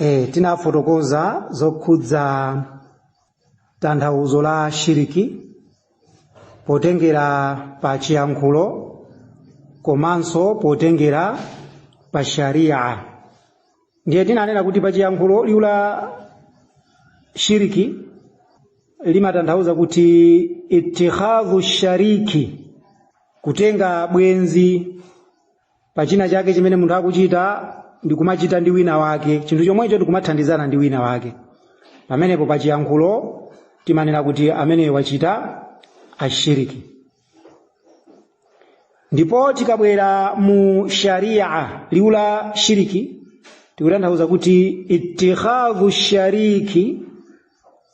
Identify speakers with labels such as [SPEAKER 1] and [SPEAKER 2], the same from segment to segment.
[SPEAKER 1] e, tinafotokoza zokhudza tanthauzo la shiriki potengera pa chiyankhulo komanso potengera pa sharia ndiye tinanena kuti pa chiyankhulo liwu la shiriki limatanthauza kuti itikhadhu shariki kutenga bwenzi pa china chake chimene munthu akuchita ndi kumachita ndi wina wake chinthu chomwecho ndikumathandizana ndi wina wake pamenepo pa chiyankhulo timanena kuti amene wachita ashiriki ndipo tikabwera mu sharia liwu la shiriki tikutanthauza kuti itikhadhu shariki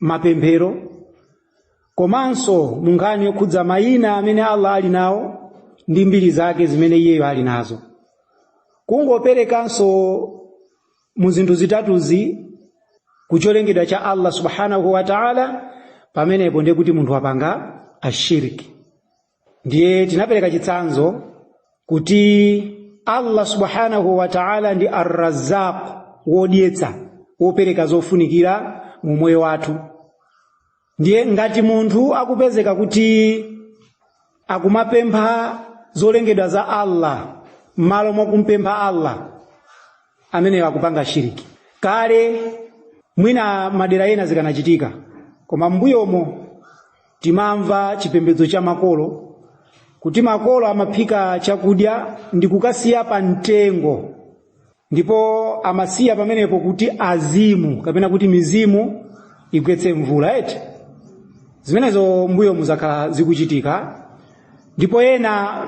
[SPEAKER 1] mapemphero komanso mu nkhani yokhudza mayina amene allah ali nawo ndi mbiri zake zimene iyeyo ali nazo kungoperekanso mu zinthu zitatuzi ku cholengedwa cha allah subhanahu wa taala pamenepo ndiye kuti munthu wapanga ashiriki ndiye tinapereka chitsanzo kuti allah subhanahu wa ta'ala ndi arrazaq wodyetsa wopereka zofunikira mu moyo wathu ndiye ngati munthu akupezeka kuti akumapempha zolengedwa za allah m'malo mwa kumpempha allah ameneyo akupanga shiriki kale mwina madera ena zikanachitika koma m'mbuyomo timamva chipembedzo cha makolo kuti makolo amaphika chakudya ndi kukasiya pa mtengo ndipo amasiya pamenepo kuti azimu kapena kuti mizimu igwetse mvula eti zimenezo m'mbuyomu zakhala zikuchitika ndipo ena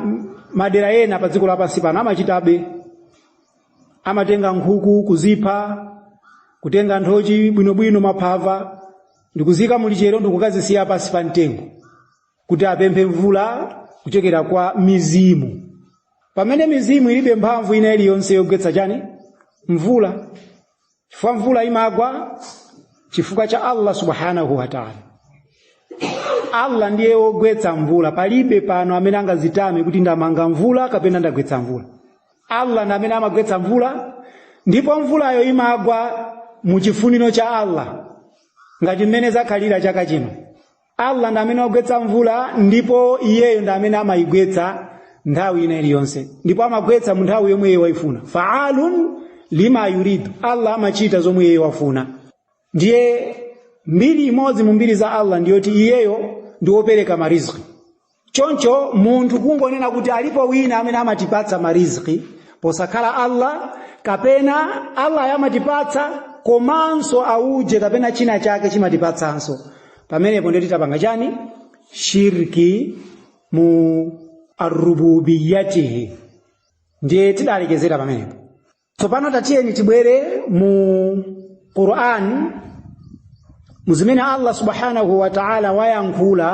[SPEAKER 1] madera ena pa dziko lapansi pano amachitabe amatenga nkhuku kuzipha kutenga nthochi bwinobwino maphava ndikuziika mu lichero ndikukazisiya pansi pa mtengo kuti apemphe mvula kuchokera kwa mizimu pamene mizimu ilibe mphamvu ina iliyonse yogwetsa chani mvula chifukwa mvula imagwa chifukwa cha allah subhanahu wataala allah ndiye wogwetsa mvula palibe pano amene angazitame kuti ndamanga mvula kapena ndagwetsa mvula allah ndi amene amagwetsa mvula ndipo mvulayo imagwa mu chifuniro cha allah ngati mmene zakhalira chaka chino allah ndi amene wagwetsa mvula ndipo iyeyo ndi amene amayigwetsa nthawi ina iliyonse ndipo amagwetsa mu nthawi yomwe iyeyo waifuna faalun lima yuridu allah amachita zomwe iyeyo wafuna ndiye mbiri imodzi mu mbiri za allah ndiyoti iyeyo ndi wopereka mariziki choncho munthu kungonena kuti alipo wina amene amatipatsa mariziki posakhala allah kapena allah amatipatsa komanso auje kapena china chake chimatipatsanso pamenepo ndiye titapanga chani shirki mu arububiyatihi ndiye tidalekezera pamenepo tsopano tatiyeni tibwere mu qur'an muzimene allah subhanahu wa ta'ala wayankhula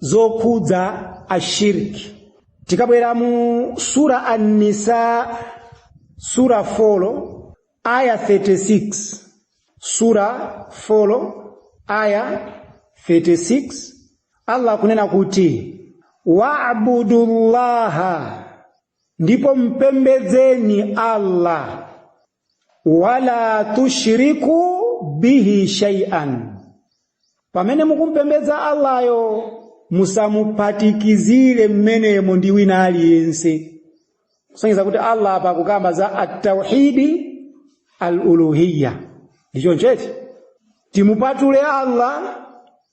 [SPEAKER 1] zokhudza shirki tikabwera mu sura an-nisa sura 4 aya 36 sura 4 aya 36 allah akunena kuti wa'budu llaha ndipo mpembedzeni Allah wala tushriku bihi shay'an pamene mukumpembedza Allayo musamuphatikizire mmenemo ndi wina aliyense kusonyeza kuti Allah apa akukamba za at-tauhidi al-uluhiyya ndi choncho eti timupatule Allah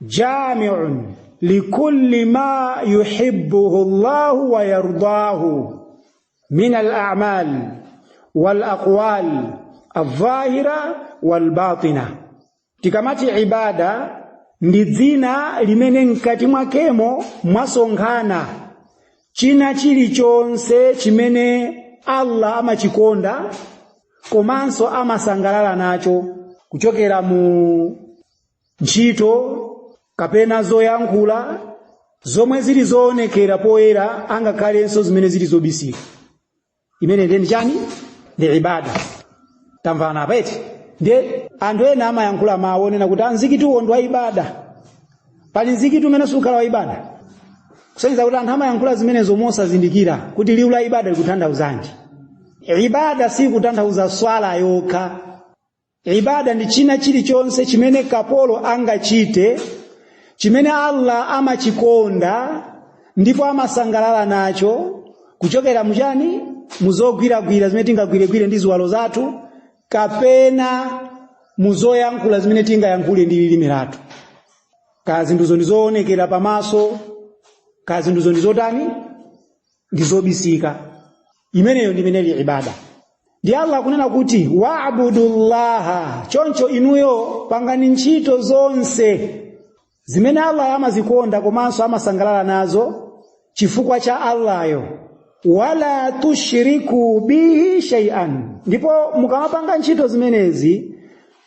[SPEAKER 1] jamiun likulli ma yuhibbuhu llahu wa yardahu min alamal walaqwal aldhahira walbatina. Tikamati ibada ndi dzina limene mkati mwakemo mwasonkhana china chilichonse chimene Allah amachikonda komanso amasangalala nacho kuchokera mu ntchito kapena zoyankhula zomwe zili zoonekera poyera angakhalenso zimene zili zobisika imene ndiye ndi chani ndi ibada tamvana apa eti ndiye anthu ena amayankhula mawu onena kuti mzikitiwo ndi wa ibada pali mzikiti umene siukhala wa ibada kusonyeza kuti anthu amayankhula zimenezo mosazindikira kuti liwu la ibada likutanthauzanji ibada si kutanthauza swala yokha Ibada ndi china chilichonse chimene kapolo angachite chimene Allah amachikonda ndipo amasangalala nacho kuchokera muchani muzogwiragwira zimene tingagwiregwire ndi ziwalo zathu kapena muzoyankhula zimene tingayankhule ndi lilime lathu kaya zinthuzo ndi zoonekera pamaso kaya zinthuzo ndi zotani ndi zobisika imeneyo ndi imene ili ibada ndiye allah akunena kuti wabudullaha choncho inuyo pangani ntchito zonse zimene allahyo amazikonda komanso amasangalala nazo chifukwa cha allahyo wala tushriku bihi shay'an ndipo mukamapanga ntchito zimenezi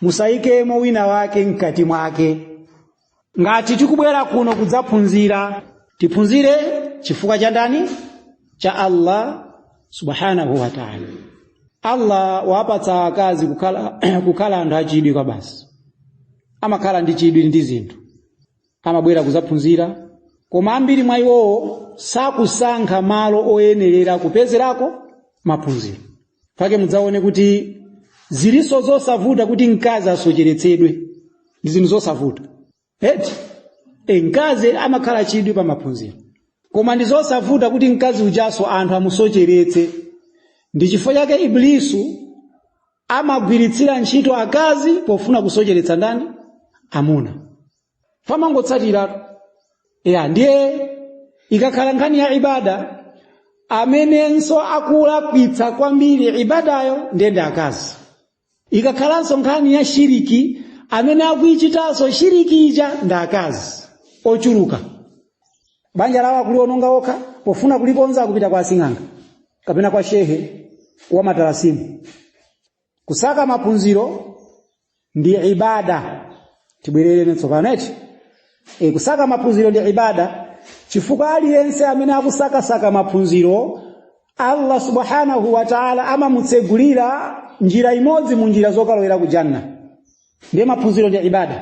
[SPEAKER 1] musayikemo wina wake mkati mwake ngati tikubwera kuno kudzaphunzira tiphunzire chifukwa cha ndani cha allah subhanahu wa taala allah wawapatsa akazi kukhala anthu achidwi kwabasi amakhala ndi chidwi ndi zinthu amabwera kudzaphunzira koma ambiri mwa iwowo sakusankha malo oyenerera kupezerako maphunziro pake mudzaone kuti zilinso zosavuta kuti mkazi asocheretsedwe ndi zinthu zosavuta eti mkazi amakhala chidwi pa maphunziro koma ndi zosavuta kuti mkazi ujanso anthu amusocheretse ndi chifukwa chake iblisu amagwiritsira ntchito akazi pofuna kusocheretsa ndani amuna pamangotsatiratu ya ndiye ikakhala nkhani ya ibada amenenso akulakwitsa kwambiri ibadayo ndiye akazi ikakhalanso nkhani ya shiriki amene akuichitanso shiriki ija ndi akazi ochuluka banja lawo akuliononga okha pofuna kulikonza kupita kwa asing'anga kapena kwa shehe wa matalasimu kusaka maphunziro ndi ibada tibwererane tsopano eti kusaka maphunziro ndi ibada chifukwa aliyense amene akusakasaka maphunziro allah subhanahu wa taala amamutsegulira njira imodzi mu njira zokalowera ku janna ndiye maphunziro ndi ibada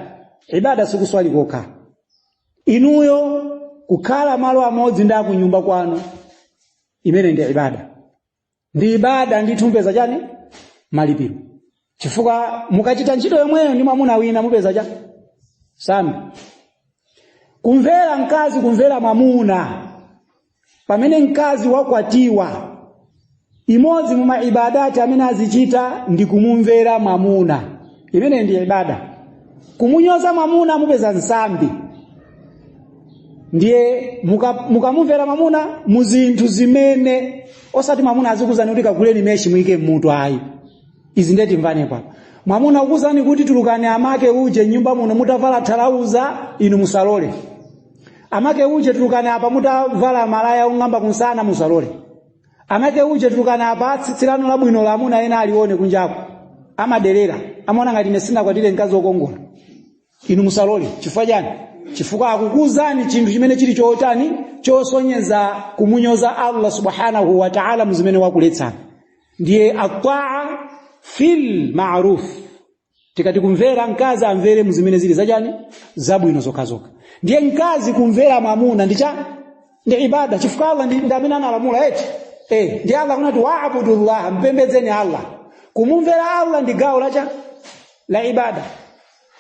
[SPEAKER 1] ibada sikuswali kokha inuyo kukhala malo amodzi ndi akunyumba kwanu imene ndi ibada ndi ibada ndithu mupeza chani malipiro chifukwa mukachita ntchito yomweyo ndi mwamuna wina mupeza chani nsambi kumvera mkazi kumvera mwamuna pamene mkazi wakwatiwa imodzi mu maibadati amene azichita ndi kumumvera mwamuna imene ndi ibada kumunyoza mwamuna mupeza nsambi ndiye mukamumvera mwamuna mu zinthu zimene osati mwamuna azikuuzani kuti kaguleni meshi muike mmutu ayi izi ndiye timvane pano mwamuna akuuzani kuti tulukani amake uje m'nyumba muno mutavala thalauza inu musalole amake uje tulukani apa mutavala malaya ong'amba kunsana musalole amake uje tulukani apa tsitsi lanu labwinoli amuna ena alione kunjako amaderera amaona ngati ine sinakwatire mkazi wokongola inu musalole chifukwa chani chifukwa akukuuzani chinthu chimene chili chotani chosonyeza kumunyoza allah subhanahu wa taala muzimene wakuletsani ndiye ataa fil maruf tikati kumvera mkazi amvere muzimene zili zachani zabwino zokhazokha ndiye mkazi kumvera mwamuna ndi chani ibada chifukwa allah ndi amene analamula eti eh ndiye allah kunati waabudu llah mpembedzeni allah kumumvera allah ndi gawo la chani la ibada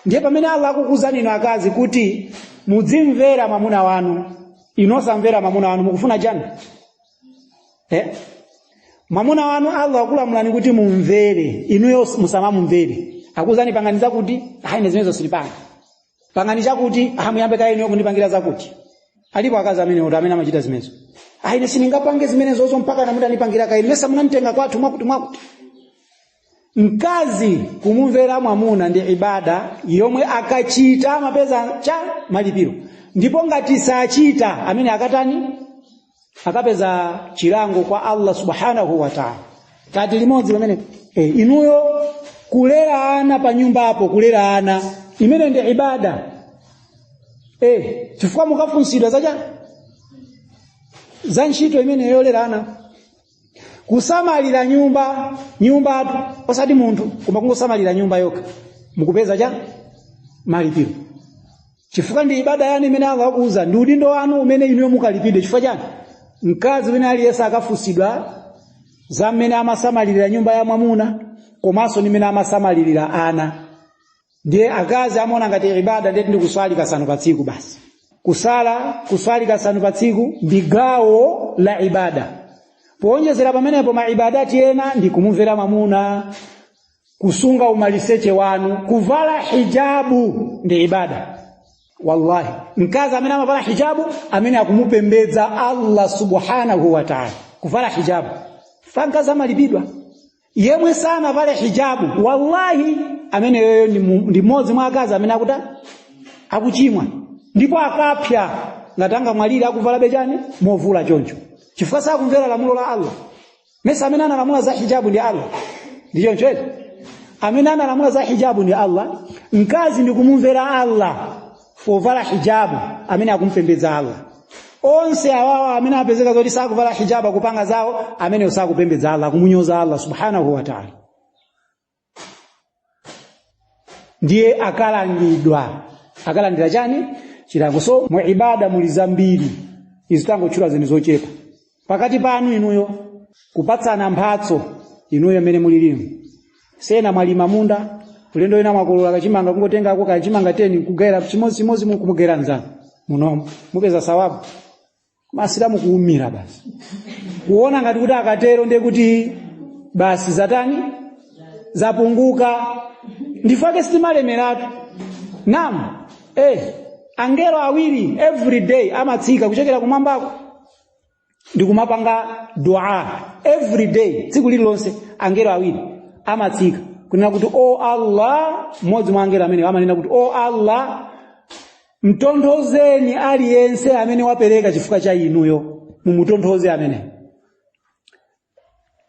[SPEAKER 1] ndiye pamene allah akukuzani inu akazi kuti mudzimvera mwamuna wanu inu osamvera mwamuna wanu mukufuna chani eh? mwamuna wanu allah akulamulani kuti mumvere inuyo musamamumvere akuzani pangani zakuti ayi ine zimenezo sindipanga pangani chakuti aha muyambe kaye inuyo kundipangira zakuti alipo akazi amene kuti amene amachita zimenezo ayi ine sindingapange zimenezozo mpaka mwamuna atandipangira kaye mesa munanditenga kwathu mwakuti mwakuti mkazi kumumvera mwamuna ndi ibada yomwe akachita amapeza malipiro cha malipiro ndipo ngati sachita amene akatani akapeza chilango kwa allah subhanahu wa taala kati limodzi pamene e, inuyo kulera ana pa nyumbapo kulera ana imene ndi ibada e, chifukwa mukafunsidwa zacha za ntchito imene yolera ana kusamalira nyumba nyumbatu osati munthu koma kungosamalira nyumba yokha mukupeza cha malipiro chifukwa ndi ibada yanu imene Allah akuuza ndi udindo wanu umene inuyo mukalipidwe chifukwa chani mkazi wina aliyense akafunsidwa za mmene amasamalirira nyumba ya mwamuna komanso ndi mmene amasamalirira ana ndiye akazi amaona ngati ibada ndiye kuti ndi kuswali kasanu pa tsiku basi kusala kuswali kasanu pa tsiku ndi gawo la ibada powonjezera pamenepo maibadati ena ndi kumumvera mamuna kusunga umaliseche wanu kuvala hijabu ndi ibada wallahi mkazi amene amavala hijabu amene akumupembedza allah subhanahu wa taala kuvala hijabu kwa mkazi amalipidwa yemwe sanavale hijabu wallahi ameneyoyo ndi mu- ndi mmodzi mwa akazi amene akuta akuchimwa ndipo akapsa ngati angamwalire akuvalabe chani movula choncho chifukwa sakumvera lamulo la allah mesa amene analamula za hijabu ndi allah ndi choncho eti amene analamula za hijabu ndi allah mkazi ndi kumumvera allah povala hijabu amene akumpembedza Allah onse awawa amene apezeka zoti sakuvala hijabu akupanga zawo amene sakupembedza Allah akumunyoza Allah subhanahu wa ta'ala ndiye akalangidwa akalandira chani chilango so mu ibada muli zambiri izi tangotchula zinthu zochepa pakati panu inuyo kupatsana mphatso inuyo mmene mulilimu sena mwalima munda ulendo wina mwakolola kachimanga kungotengako kachimanga 10 kugayira chimodzimodzi mukumugayira mnzanu munomo mupeza sawabu masilamu kuumira basi kuona ngati kuti akatero ndiye kuti basi zatani zapunguka n'chifukwa chake sitimalemeratu nam eh angelo awiri every day amatsika kuchokera kumwambako ndikumapanga dua every day tsiku lililonse angelo awiri amatsika kunena kuti o allah mmodzi mwa angelo amenewo amanena kuti o allah mtonthozeni aliyense amene wapereka chifukwa cha inuyo mumutonthoze ameneyo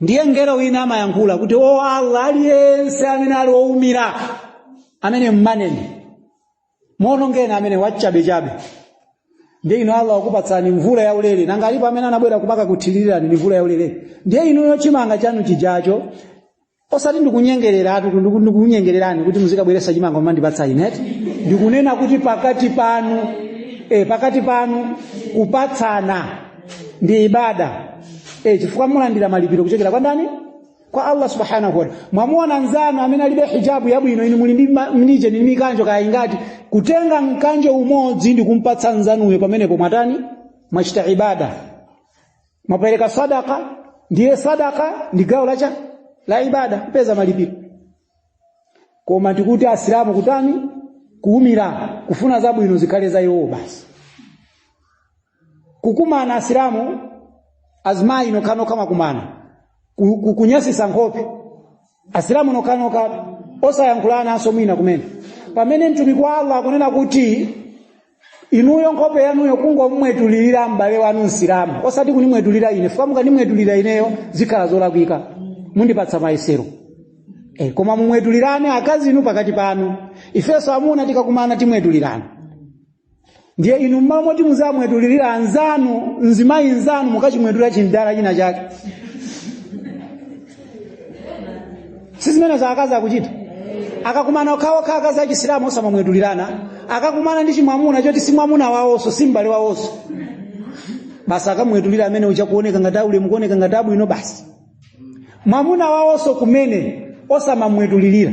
[SPEAKER 1] ndiye mngelo wina amayankhula kuti o allah aliyense amene ali owumira amene mmaneni muonongeni amene wachabechabe ndiye inu allah wakupatsani mvula yaulere nanga alipo amene anabwera kumakuthirirani ndi mvula yaulere ndiye inuyo chimanga chanu chijacho osati ndikunyengereratu ndiku- ndikunyengererani kuti muzikabweresa chimanga kumandipatsa ine eti ndikunena kuti pakati panu e, pakati panu kupatsana ndi ibada e, chifukwa mulandira malipiro kuchokera kwa ndani kwa allah subhanahu wataala mwamuona nzanu amene alibe hijabu yabwino inu muli ndi ma- muli ndi mikanjo kaya ingati kutenga mkanjo umodzi ndi kumpatsa nzanuyo pamenepo mwatani mwachita ibada mwapereka sadaka ndiye sadaka ndi gawo la la ibada mupeza malipiro koma tikuti asilamu kutani kuumira kufuna zabwino zikhale za iwowo basi kukumana asilamu azimayi nokhanokha kumakumana ku- ku- kunyasisa nkhope asilamu nokhanokha osayankhulananso mwina kumene pamene mtumiki wa allah akunena kuti inuyo nkhope yanuyo kungomwetulirira m'bale wanu msilamu osati kunimwetulira ine chifukwa mukanimwetulira ineyo zikhala zolakwika mundipatsa mayesero e, koma mumwetulirane akazi inu pakati panu ifenso amuna tikakumana timwetulirana ndiye inu mmalo moti muzimwetulirira nzanu mzimayi nzanu mukachimwetulira chimdala china chake si zimenezo akazi akuchita akakumana okhaokha akazi achisilamu osamamwetulirana akakumana ndi chimwamuna choti si mwamuna wawonso si m'bale wawonso basi akamwetulira amene uja kuoneka ngati aulemu kuoneka ngati abwino basi mwamuna wawonso kumene osamamwetulirira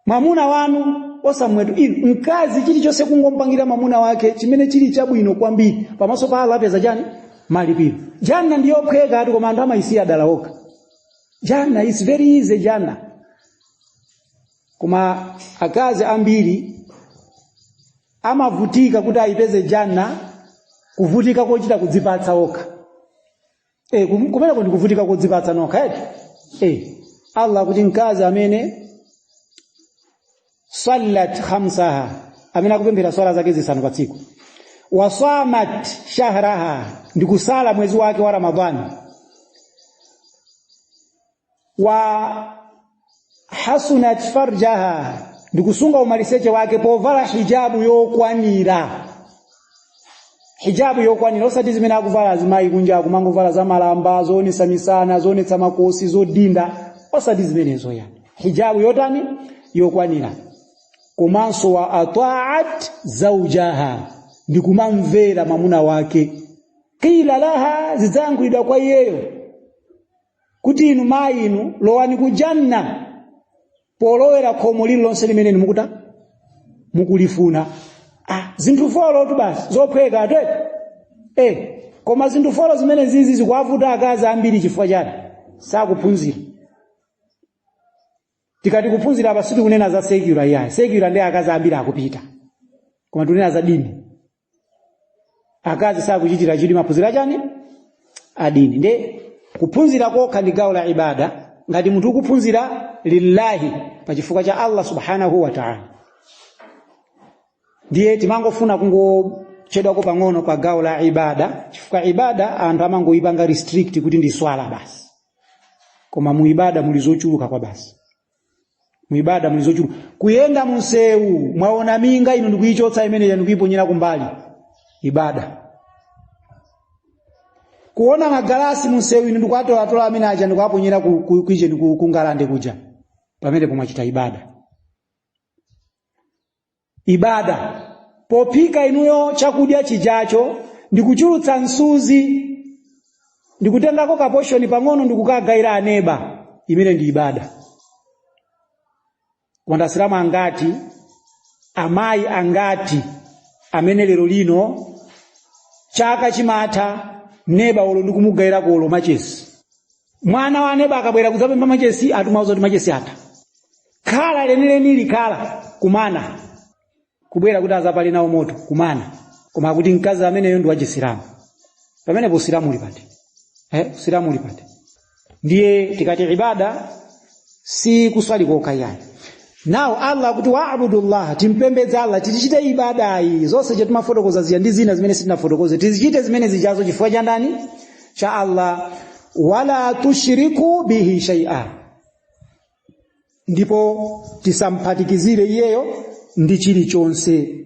[SPEAKER 1] mwamuna wanu osamwetulira mkazi chilichonse kungompangira mwamuna wake chimene chili chabwino kwambiri pamaso pa Allah apeza chani malipiro janna ndi yophwekatu koma anthu amayisiya dala okha janna is very easy janna koma akazi ambiri amavutika kuti ayipeze janna kuvutika kochita kudzipatsa okha eh kum- kumeneko ndikuvutika kodzipatsa nokhatu eh Allah akuti mkazi amene sallat khamsaha amene akupemphera swala zake zisanu pa tsiku wasamat shahraha ndikusala mwezi wake wa ramadhani wa hasanat farjaha ndikusunga umaliseche wake povala hijabu yokwanira hijabu yokwanira osati zimene akuvala azimayi kunja akumangovala za malamba zoonetsa misana zoonetsa makosi zodinda osati zimenezo yayi hijabu yotani yokwanira komanso wa ataat zaujaha ndikumamvera mwamuna wake qila laha zidzayankhulidwa kwa iyeyo kuti inu mayi inu lowani ku janna polowera khomo lililonse limene inu mukuti mukulifuna ah, zinthu folo tu basi zophweka atete eh, koma zinthu folo zimene zizi zikuwavuta akazi ambiri chifukwa chani sakuphunzira tikati kuphunzira apa sitikunena za secular yayi secular nde akazi ambiri akupita koma tikunena za dini akazi sakuchitira chidwi maphunziro achani adini nde kuphunzira kokha ndi gawo la ibada ngati munthu ukuphunzira lillahi pa chifukwa cha allah subhanahu wa taala ndiye timangofuna kungochedwako pang'ono pa gawo la ibada chifukwa ibada anthu amangoyipanga restrict kuti ndi swala basi koma mu ibada muli zochuluka kwabasi muibada muli zochuluka kuyenda munsewu mwaona minga inu ndikuichotsa imene ija ndikuiponyera kumbali ibada kuona magalasi munsewu inu ndikuatolatola amene aja ndikuaponyera ku- ku- kwijeni kungalande kuja pamenepo mwachita ibada ibada pophika inuyo chakudya chijacho ndikuchulutsa msuzi ndikutengako kaposhoni pang'ono ndikukagaira aneba imene ija ndi ibada koma nde asilamu angati amayi angati amene lero lino chaka chimatha neba olo ndikumugairako olo machesi mwana wa aneba akabwera kudzapempha machesi akumuuza kuti machesi atha khala lenileni khala kumana kubwera kuti azapale nawo moto kumana koma akuti mkazi ameneyo ndi wachisilamu pamenepo usilamu uli pati eh, usilamu uli pati ndiye tikati ibada si kuswali kokha yayi now allah akuti wabudullaha timpembedze allah tichite ibadayi zonse zimene timafotokoza zija ndi zina zimene sitinafotokoze tizichite zimene zijazo chifukwa cha ndani cha allah wala tushiriku bihi shaia ndipo tisamphatikizire iyeyo ndi chilichonse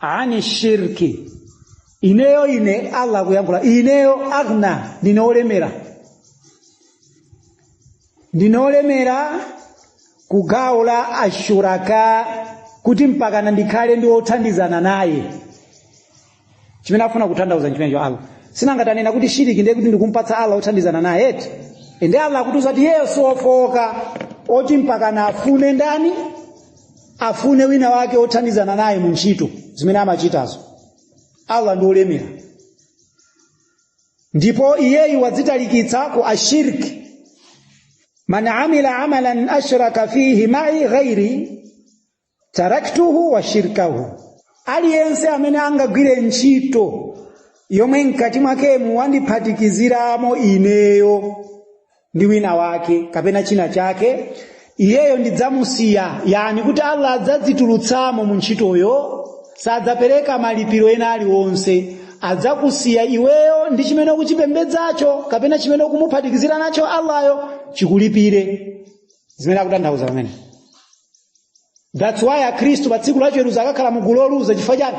[SPEAKER 1] ani shirki ineyo ine allah kuyankhula ineyo aghna ndine olemera ndine olemera ku gawo la ashuraka kuti mpakana ndikhale ndi othandizana naye chimene afuna kutanthauza nchimenecho allah si nanga tanena kuti shiriki ndiye kuti ndikumpatsa allah othandizana naye eti ende allah akutiuza kuti iye si ofowoka oti mpakana afune ndani afune wina wake othandizana naye mu ntchito zimene amachitazo allah ndi olemera ndipo iyeyu wadzitalikitsa ku shirki man amila amalan ashraka fihi mai ghairi taraktuhu wa shirkahu aliyense amene angagwire ntchito yomwe mkati mwakemu wandiphatikiziramo ineyo ndi wina wake kapena china chake iyeyo ndidzamusiya yani kuti allah adzadzitulutsamo mu ntchitoyo sadzapereka malipiro ena aliwonse adzakusiya iweyo ndi chimene ukuchipembedzacho kapena chimene ukumuphatikizira nacho allahyo chikulipire zimene akutanthauza pamenepo that's why akhristu pa tsiku lachiweruzo akakhala mugulu loluza chifukwa chani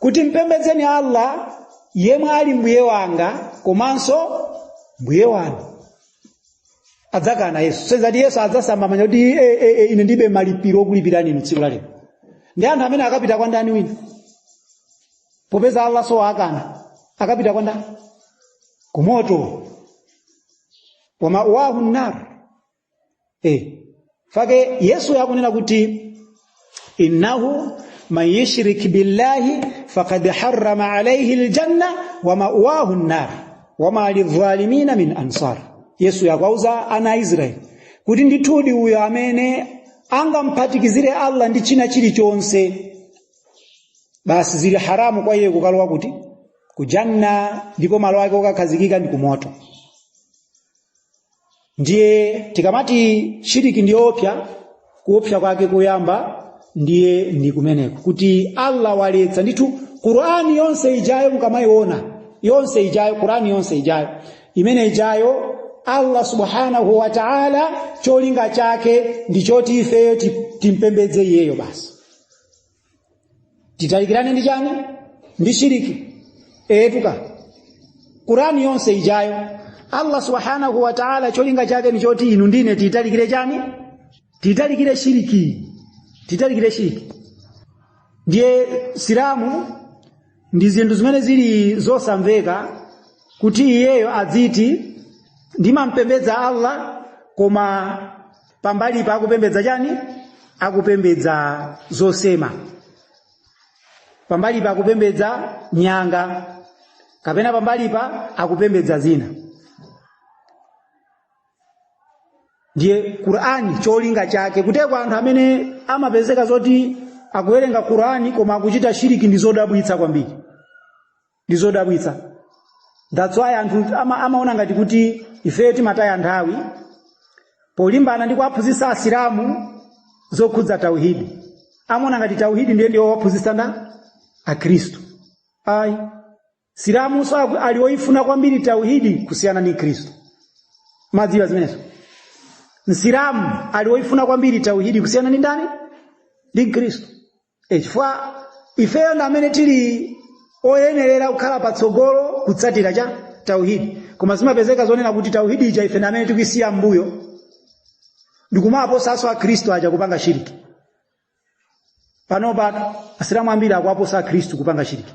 [SPEAKER 1] kuti mpembedzeni allah yemwe ali mbuye wanga komanso mbuye wanu adzakana yesu si zoti yesu adzasamba manja kuti e, e, e, ine ndilibe malipiro okulipirani inu tsiku lalero nde anthu amene akapita kwa ndani wina popeza allah nso wakana akapita kwa ndani kumoto wa ma'wahu nar nchifukwa chake yesu akunena kuti innahu man yushrik billahi faqad harrama alayhi aljanna wa ma'wahu an-nar wa ma lidh-dhalimina min ansar yesu akuwauza ana a israeli kuti ndithudi uyo amene angamphatikizire allah ndi china chilichonse basi zili haramu kwa iye kukalowa kuti kujanna ndipo malo ake okakhazikika ndi kumoto ndiye tikamati shiriki ndiyoopsa kuopsa kwake koyamba ndiye ndi kumeneko kuti allah waletsa ndithu qurani yonse ijayo mukamayiona yonse ijayo qurani yonse ijayo imene ijayo allah subhanahu wa taala cholinga chake ndi choti ifeyo ti- timpembedze iyeyo basi titalikirane ndi chani ndi shiriki etuka qurani yonse ijayo allah subhanahu wa taala cholinga chake ni choti inu ndine titalikire chani titalikire shiriki titalikire shiriki ndiye msilamu ndi zinthu zimene zili zosamveka kuti iyeyo adziti ndimampembedza allah koma pambali pake akupembedza chani akupembedza zosema pambali pake akupembedza nyanga kapena pambali pake akupembedza zina ndiye qurani cholinga chake kuteteza anthu amene amapezeka zoti akuwerenga qurani koma akuchita shiriki ndi zodabwitsa kwambiri ndi zodabwitsa that's why anthu ama, amaona ngati kuti ifeyo timataya nthawi polimbana ndi kuwaphunzitsa asilamu zokhudza tauhidi amaona ngati tauhidi ndiye ndiye waphunzitsa ndani akhristu ayi msilamunso aku- ali woyifuna kwambiri tauhidi kusiyana ndi khristu mumadziwa zimenezo msilamu ali woyifuna kwambiri tauhidi kusiyana ndi ndani ndi khristu E chifukwa ifeyo ndi amene tili oyenerera kukhala patsogolo kutsatira chani tauhidi koma zimapezeka zonena kuti tauhidi ija ife ndi amene tikuisiya mbuyo ndikumawaposanso akhristu aja kupanga shiriki panopa asilamu ambiri akuwaposa akhristu kupanga shiriki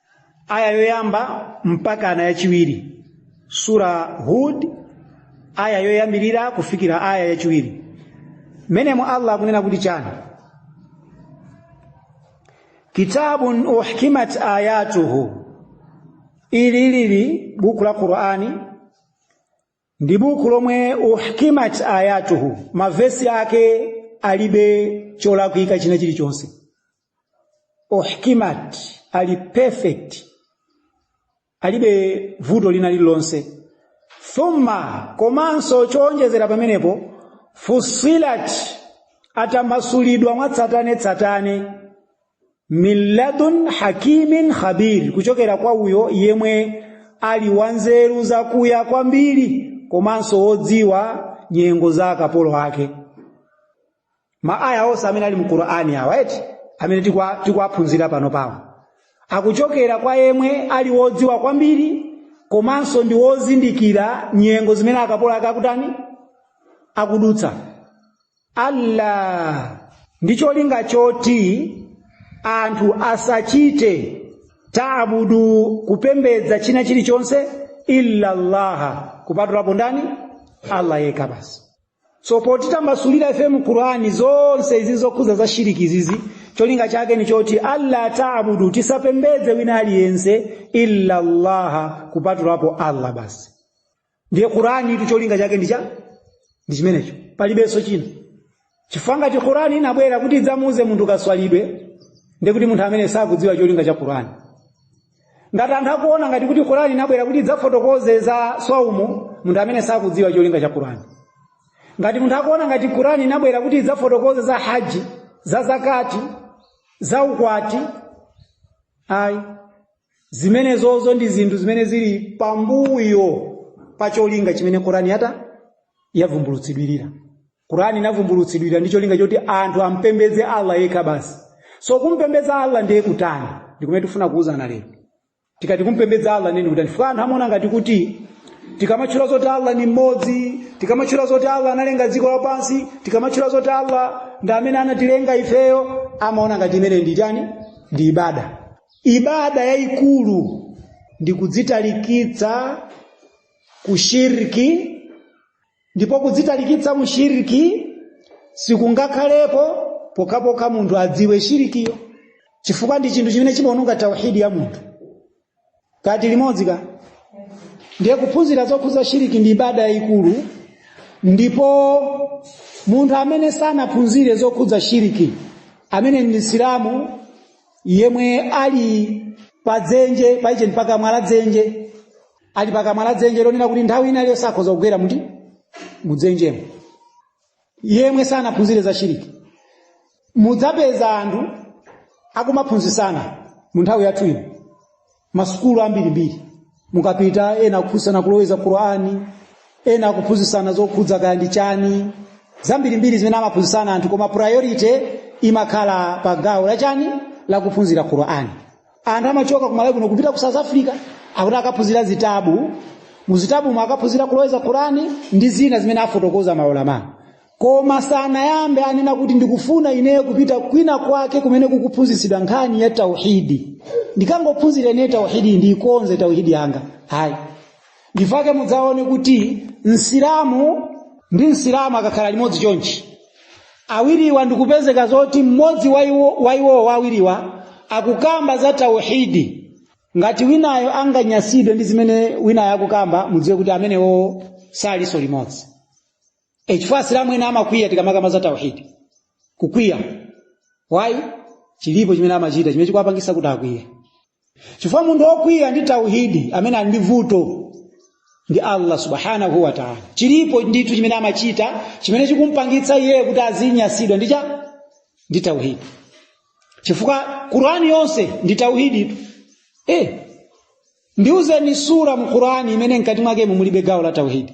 [SPEAKER 1] aya yoyamba mpakana yachiwiri sura hud aya yoyambirira kufikira aya yachiwiri menemo allah akunena kuti chani kitabun uhkimat ayatuhu ilili ndi buku la qur'ani ndi buku lomwe uhkimat ayatuhu mavesi ake alibe cholakwika china chilichonse uhkimat ali perfect alibe vuto lina lililonse thumma komanso choonjezera pamenepo fusilat atambasulidwa mwatsatanetsatane min ladun hakimin khabir kuchokera kwa uyo yemwe ali wanzeru zakuya kwambiri komanso wodziwa nyengo za akapolo ake maaya onse amene ali mu qur'ani awa eti amene tikuwaphunzira panopawo akuchokera kwa yemwe ali wodziwa kwambiri komanso ndi wozindikira nyengo zimene akapolo ake akutani akudutsa alla ndi cholinga choti anthu asachite taabudu kupembedza china chilichonse illa llaha kupatulapo ndani allah yekha basi so potitambasulira ife mu qurani zonse izi zokhuza za shiriki izizi cholinga chake ndi choti alla taabudu tisapembedze wina aliyense illa llaha kupatulapo allah basi ndiye quranitu cholinga chake ndi cha ndi chimenecho palibenso china chifukwa ngati qurani inabwera kuti idzamuuze munthu kaswalidwe ndiye kuti munthu amene sakudziwa cholinga cha qurani ngati anthu akuona ngati kuti qurani inabwera kuti idzafotokoze za swaumu munthu amene sakudziwa cholinga cha qurani ngati munthu akuona ngati qurani inabwera kuti idzafotokoze za haji za zakati za ukwati ayi zimenezozo ndi zinthu zimene zili pambuyo pa cholinga chimene kurani yata yavumbulutsidwirira kurani inavumbulutsidwira ndi cholinga choti anthu ampembedze allah yekha basi so kumpembedza allah ndiye kutani ndikumene tifuna kuuzana lero tikati kumpembedza allah ndi kutani chifukwa anthu amaona ngati kuti tikamatchula zoti allah ndi mmodzi tikamatchula zoti allah analenga dziko lapansi tikamatchula zoti allah ndi amene anatilenga ifeyo amaona ngati imene ndi chani ndi ibada ibada yayikulu ndi kudzitalikitsa ku shirki ndipo kudzitalikitsa mu shirki sikungakhalepo pokhapokha munthu adziwe shirikiyo chifukwa ndi chinthu chimene chimaononga tauhidi ya munthu kati limodzi ka ndiye kuphunzira zokhudza shiriki ndi ibada yayikulu ndipo munthu amene sanaphunzire zokhudza shiriki amene ndi msilamu yemwe ali pa dzenje paiche ndi pakamwa la dzenje ali pakamwa la dzenje lonena kuti nthawi ina iliyonse akhoza kugwera muti mudzenjemo yemwe sanaphunzire za shiriki mudzapeza anthu akumaphunzisana mu nthawi yathu ino masukulu ambirimbiri mukapita ena akuphunzisana kuloweza qurani ena akuphunzisana zokhudza kaya ndi chani zambirimbiri zimene amaphunzisana anthu koma priority imakhala pa gawo la chani la kuphunzira qurani anthu amachoka ku malawi kuno kupita ku south africa akuti akaphunzira zitabu muzitabumo akaphunzira kuloweza qurani ndi zina zimene afotokoza maulama koma sanayambe anena kuti ndikufuna ineyo kupita kwina kwake kumene kukuphunzitsidwa nkhani ya tauhidi ndikangophunzira ineyo tauhidi ndiikonze tauhidi yanga ayi nchifukwa chake mudzaone kuti msilamu ndi msilamu akakhala limodzi chonchi awiriwa ndikupezeka zoti mmodzi wa iwo- wa iwowo wa awiriwa akukamba za tauhidi ngati winayo anganyasidwe ndi zimene winayo akukamba mudziwe kuti amenewo salinso limodzi e chifukwa asilamu ena amakwiya tikamakamba za tauhidi kukwiya wayi chilipo chimene amachita chimene chikuwapangisa kuti akwiye chifukwa munthu okwiya ndi tauhidi ameneyo ali ndi vuto ndi allah subhanahu wa taala chilipo ndithu chimene amachita chimene chikumpangitsa iyeyo kuti azinyasidwa ndi cha ndi tauhidi chifukwa qurani yonse ndi tauhidi tu eh ndiuzeni sura mu qurani imene mkati mwakemo mulibe gawo la tauhidi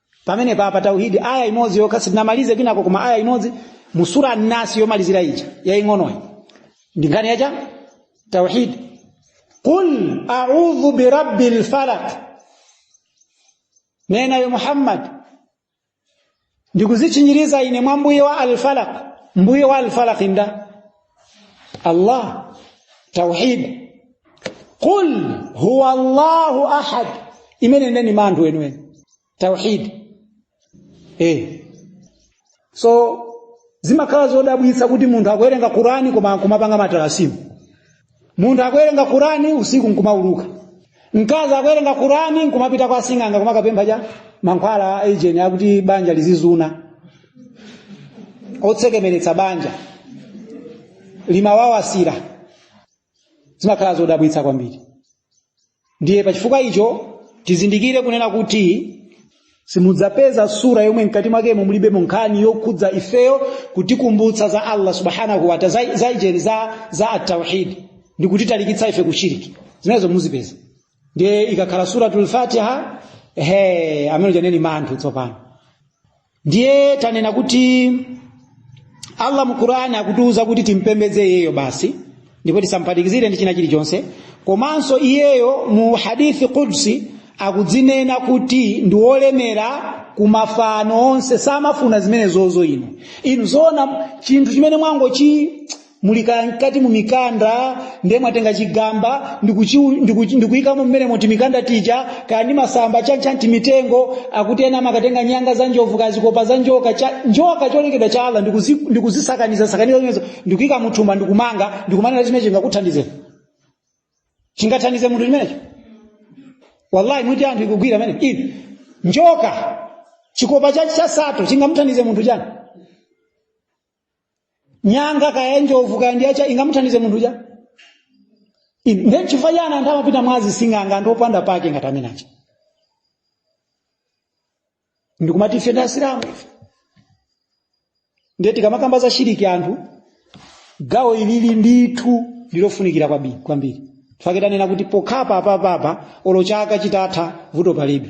[SPEAKER 1] pamene papa tauhidi aya imodzi yokha sitinamalize kwinako koma aya imodzi mu sura nasi yomalizira ija yaing'onoyi ndi nkhani yacha tauhidi qul audhu birabbi lfalak nena ya muhammad ndikuzitchinjiriza ine mwa mbuye wa alfalak mbuye wa alfalak nda Allah tauhid qul huwa Allahu ahad imeneyo ndiye manthu wenweni tauhid eh so zimakhala zodabwitsa kuti munthu akuwerenga Qur'ani koma kumapanga matalasimu munthu akuwerenga kurani usiku nkumauluka mkazi akuwerenga kurani nkumapita kwa sing'anga kumakapempha cha mankhwala a ujeni akuti banja lizizuna otsekemeretsa banja likamawawasira zimakhala zodabwitsa kwambiri ndiye pachifukwa icho tizindikire kunena kuti simudzapeza sura yomwe mkati mwakemo mulibemo nkhani yokhudza ifeyo kutikumbutsa za allah subhanahu wataa za, za ujeni za, za atauhidi ndi kutitalikitsa ife kushiriki zimenezo muzipeza ndiye ikakhala suratul fatiha he imene ija ndiye manthu tsopano ndiye tanena kuti allah mu qur'ani akutiuza kuti timpembedze iyeyo basi ndipo tisamphatikizire ndi china chilichonse komanso iyeyo mu hadithi qudsi akudzinena kuti ndi wolemera ku mafano onse samafuna zimenezozo inu inu zoona chinthu chimene mwangochi muli kaya mkati mu mikanda ndiye mwatenga chigamba ndikuchiu- ndikuchi- ndikuyikamo mmenemo timikanda tija kaya ndi masamba chanchan timitengo akuti ena amakatenga nyanga za njovu kaya zikopa za njoka cha, njoka cholengedwa cha allah ndikuzi- ndikuzisakaniza sakaniza zimenezo ndikuyika muthumba ndikumanga ndikumanena chimene chingakuthandizeni chingathandize munthu chimenecho wallahi mwiti anthu ikugwira mmene ilili njoka chikopa cha nsato chingamuthandize munthu chani nyanga kaya njovu kaya ndiyacha ingamuthandize munthu chani Inu, ndiye chifukwa chani anthu amapita kwa asing'anga anthu opanda pake ngati amene aja ndikumati ife ndi asilamu ife ndiye tikamakamba za shiriki anthu gawo ili ndithu ndilofunikira kwabi- kwambiri tifakitanena kuti pokhapa apapapa olo chaka chitatha vuto palibe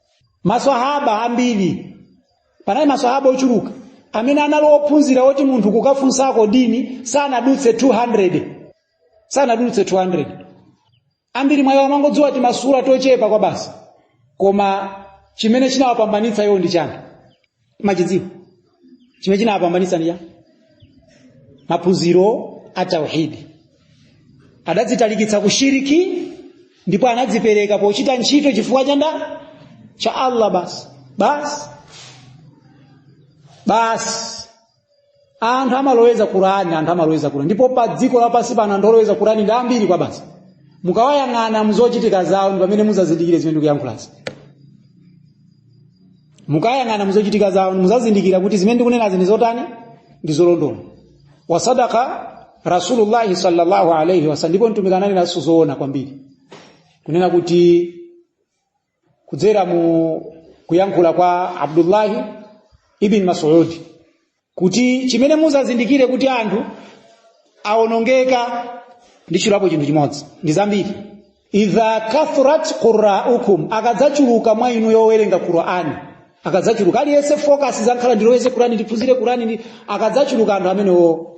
[SPEAKER 1] maswahaba ambiri panali maswahaba ochuluka amene anali ophunzira oti munthu kukafunsako dini sanadutse 200 sanadutse 200 ambiri mwayo amangodziwa timasura tochepa kwabasi koma chimene chinawapambanitsa iwo ndi chani machidziwo chimene chinawapambanitsa ndi maphunziro a tauhidi adadzitalikitsa ku shiriki ndipo anadzipereka pochita ntchito chifukwa cha nda cha allah basi basi basi anthu amaloweza kurani anthu amaloweza kurani ndipo pa dziko lapansi pano anthu oloweza kurani ndi ambiri kwabasi mukawayang'ana muzochitika zawo ndi pamene muzazindikire zimene ndikuyankhulazi mukayang'ana muzochitika zawo muzazindikira kuti zimene ndikunenazi ndi zotani ndi zolondola wa sadaka rasulullahi sallallahu alaihi wasallam ndipo mtumiki ananena zoona kwambiri kunena kuti kudzera mu kuyankhula kwa abdullahi ibn masudi kuti chimene muzazindikire kuti anthu awonongeka ndi nchulapo chinthu chimodzi ndi zambiri idha kathurat qurraukum akadzachuluka mwa inu owerenga qurani akadzachuluka aliyense focus izangokhala ndiloweze qurani ndiphunzire qurani ndi akadzachuluka anthu amenewo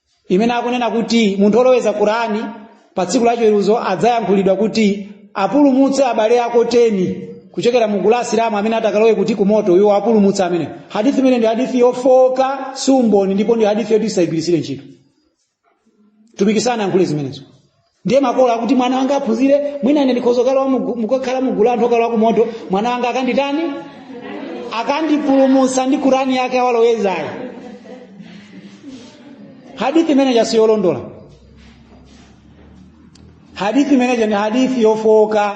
[SPEAKER 1] imene akunena kuti munthu oloweza kurani pa tsiku la chiweruzo adzayankhulidwa kuti apulumutse abale ako teni kuchokera mu gulu la asilamu amene atakalowe kuti kumoto iwo apulumutse amene hadithi imeneyi ndi hadithi yofooka si umboni ndipo ndi hadithi yoti tisayigwiritsire ntchito mtumiki sanayankhule zimenezo ndiye makolo akuti mwana wanga aphunzire mwina ine ndikhoza kukhala mugu- mukakhala mugulu la anthu okalowa ku moto mwana wanga akanditani akandipulumutse ndi kurani yake waalowezayo hadithi imeneja siyolondola hadithi imeneja ni hadithi yofooka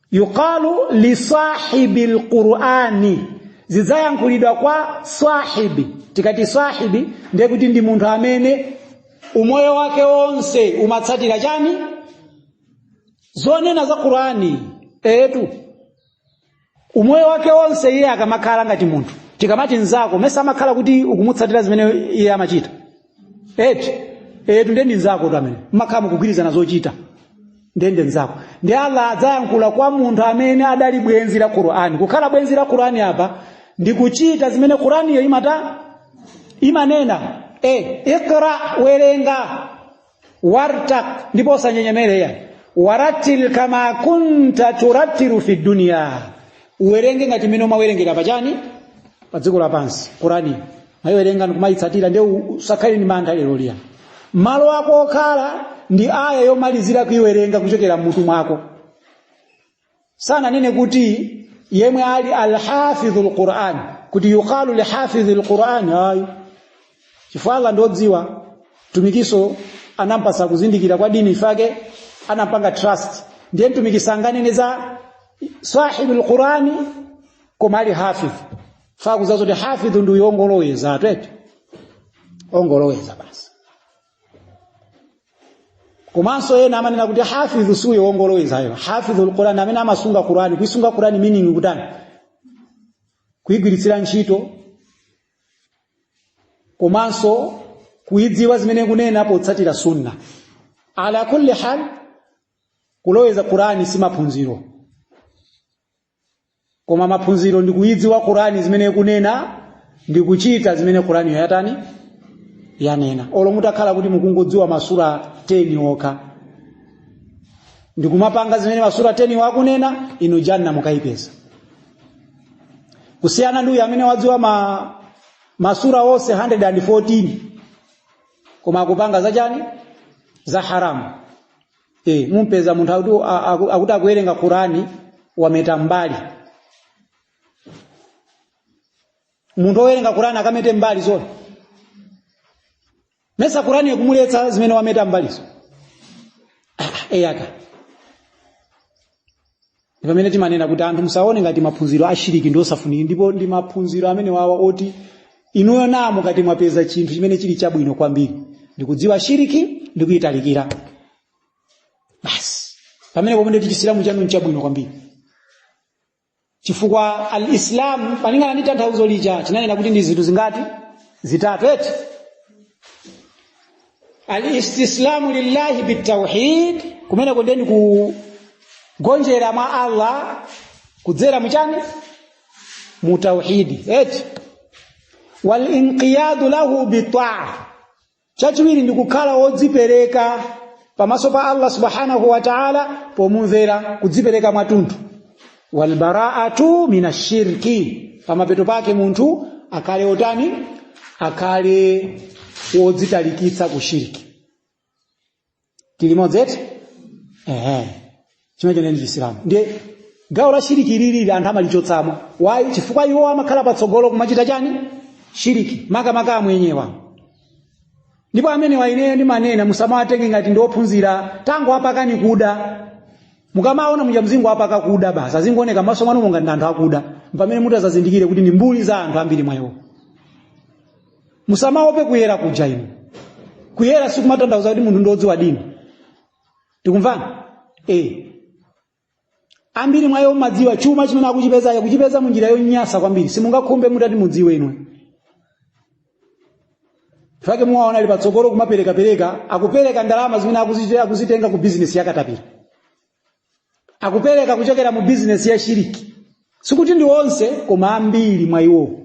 [SPEAKER 1] yuqalu li sahibi lqurani zidzayankhulidwa kwa sahibi tikati sahibi ndiye kuti ndi munthu amene umoyo wake wonse umatsatira chani zonena za qurani etu umoyo wake wonse iye akamakhala ngati munthu tikamati mzako mesa amakhala kuti ukumutsatira zimene iye amachita eti etu nde ndi nzakotu amene mmakhala mukugwirizana zochita nde nde nzako nde allah adzayankhula kwa munthu amene adali bwenzi la qur'ani kukhala bwenzi la qur'ani apa ndi kuchita zimene qur'aniyo imata imanena e ikra werenga wartaki ndipo usanyenyerere yani wa rattil kama kunta turattilu fi dunya uwerenge ngati mmene umawerengera pachani pa dziko lapansi qurani umayiwerenga ndikumayitsatira nde u- usakhale ndi mantha lero liya malo ako okhala ndi aya yomalizira kuyiwerenga kuchokera mmutu mwako sananene kuti yemwe ali alhafidhu lquran kuti yuqalu lihafidhi lquran ayi chifukwa allah ndiodziwa mtumikiso anampasa kuzindikira kwa dini ifake anampanga trust ndiye mtumiki sanganene za sahibu lqurani koma ali hafidh faa kuziwa zoti hafidhu ndi uyo ongoloweza pamtima ongoloweza basi komanso ena amanena kuti hafidhu si uyo ongolowezayo hafidhu lqurani ndi amene amasunga qurani kuisunga qurani meaning kutani kuigwiritsira ntchito komanso kuidziwa zimene ikunena potsatira sunna ala kulli hal kuloweza qurani si maphunziro koma maphunziro ndi kuidziwa qurani zimene ikunena ndi kuchita zimene qurani yatani yanena olo mutakhala kuti mukungodziwa masura 10 okha ndikumapanga zimene masura 10 wo akunena inu janna mukayipeza kusiyana ndi uyu amene wadziwa masura onse 114 koma akupanga zachani za haramu e, mumpeza munthu akuti a- aku- akuti akuwerenga qurani wameta mbali munthu owerenga qurani akamete mbali zona mesa kurani ikumuletsa zimene wameta mbalizo eyaka ndi pamene timanena kuti anthu musaone ngati maphunziro ashiriki ndi osafunika ndipo ndi maphunziro amenewawa oti inuyo namo ngati mwapeza chinthu chimene chili chabwino kwambiri ndikudziwa shiriki ndikuyitalikira basi pamenepo mwe nditi chisilamu chanu nchabwino kwambiri chifukwa alislam malingana ndi tanthauzo lija tinanena kuti ndi zinthu zingati zitatu eti alistislamu lillahi bitauhid kumene kuli ndi kugonjera mwa allah kudzera muchani mutauhidi eti walinqiyadu lahu bitaa chachiwiri ndi kukhala wodzipereka pamaso pa allah subhanahu wa taala pomumvera kudzipereka mwatunthu walbaraatu min ashirki pamapeto pake munthu akhale otani akhale wodzitalikitsa ku shirki tilimodzi eti ehe chimene choneni chisilamu ndiye gawo la shiriki ili anthu amalichotsamo wayi chifukwa iwo amakhala patsogolo kumachita chani shiriki makamaka amwenyewa ndipo amenewa ineyo ndimanena musamawatenge ngati ndi ophunzira tango apakani kuda mukamaona muja mzingo apaka kuda basi azingooneka maso mwanu ngati ndi anthu akuda ndi pamene mutadzazindikire kuti ndi mbuli za anthu ambiri mwa iwo musamaope kuyera kuja inu kuyera sikumatanthauza kuti munthu ndiodziwa dini tikumvana eh ambiri mwa iwo mumadziwa chuma chimene akuchipeza akuchipeza munjira yonyasa kwambiri simungakhumbe mutati mudziwe inu ndi chifukwa chake muwaona ali patsogolo kumaperekapereka akupereka ndalama zimene akuzitenga ku bizinesi yakatapira akupereka kuchokera mu bizinesi ya shiriki sikuti ndi onse koma ambiri mwa iwowo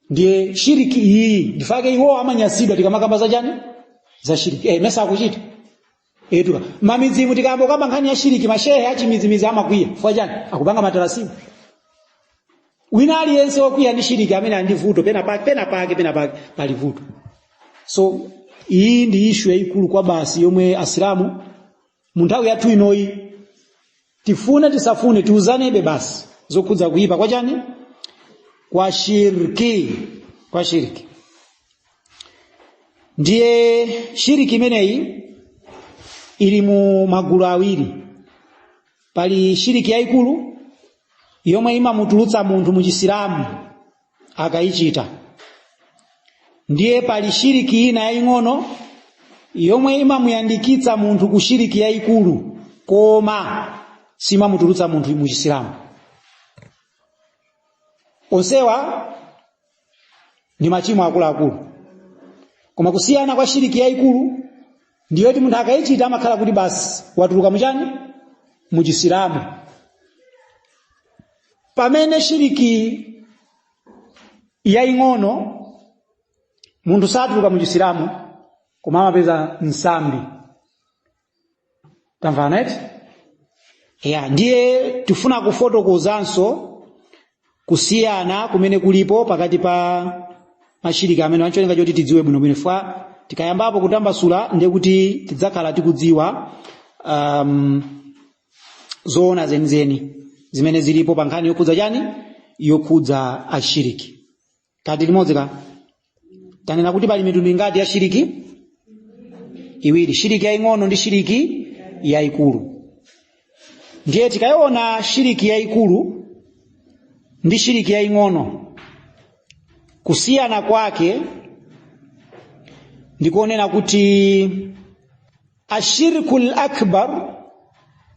[SPEAKER 1] ndiye shiriki iyi ndi chifukwa chake iwowo amanyasidwa tikamakamba za chani za shiriki eh, mesa akuchita etuka mamidzimu tikayamba kukamba nkhani ya shiriki mashehe achimizimizi amakwiya fwa chani akupanga matarasimu wina aliyense akukwiya ndi shiriki amene ali ndi vuto pena pake pena pake pena pake pali vuto so iyi ndi ishu yayikulu kwabasi yomwe asilamu mu nthawi yathu inoyi tifune tisafune tiuzanebe basi zokhudza kuyipa kwa chani kwa shirki kwa shirki ndiye shiriki imeneyi ili mu magulu awiri pali shiriki yayikulu yomwe imamutulutsa munthu mu chisilamu akayichita ndiye pali shiriki ina yaying'ono yomwe imamuyandikitsa munthu ku shiriki yayikulu koma simamutulutsa munthu mu chisilamu onsewa ndi machimo akuluakulu koma kusiyana kwa shiriki yayikulu ndi yoti munthu akayichita amakhala kuti basi watuluka muchani muchisilamu pamene shiriki yaying'ono munthu satuluka muchisilamu koma amapeza nsambi tamvana eti ya ndiye tifuna kufotokozanso kusiyana kumene kulipo pakati pa mashiriki amenewa ncholinga choti tidziwe bwinobwino fwa tikayambapo kutambasula ndiye kuti tidzakhala tikudziwa um, zoona zenizeni zimene zilipo pa nkhani yokhudza chani yokhudza shiriki kati limodzi ka tanena kuti pali mitundu ingati ya shiriki iwiri shiriki yaing'ono ndi shiriki yaikulu ndiye tikayiona shiriki yaikulu ndi shiriki yaing'ono kusiyana kwake ndi konena kuti ashirku lakbar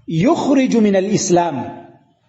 [SPEAKER 1] yukhriju min alislam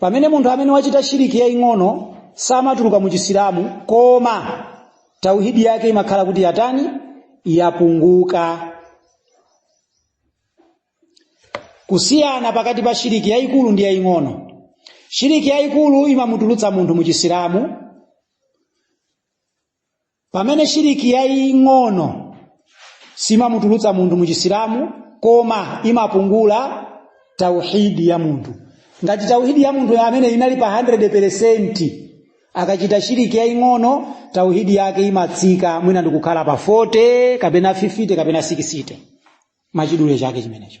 [SPEAKER 1] pamene munthu amene wachita shiriki yaing'ono samatuluka mu chisilamu koma tauhidi yake imakhala kuti yatani yapunguka kusiyana pakati pa shiriki yaikulu ndi yaing'ono shiriki yaikulu imamutulutsa munthu mu chisilamu pamene shiriki yaying'ono simamutulutsa munthu mu chisilamu koma imapungula tauhidi ya munthu ngati tauhidi ya munthu amene inali pa 100% akachita shiriki yaying'ono tauhidi yake imatsika mwina ndikukhala pa 40 kapena 50 kapena 60 machidule chake chimenecho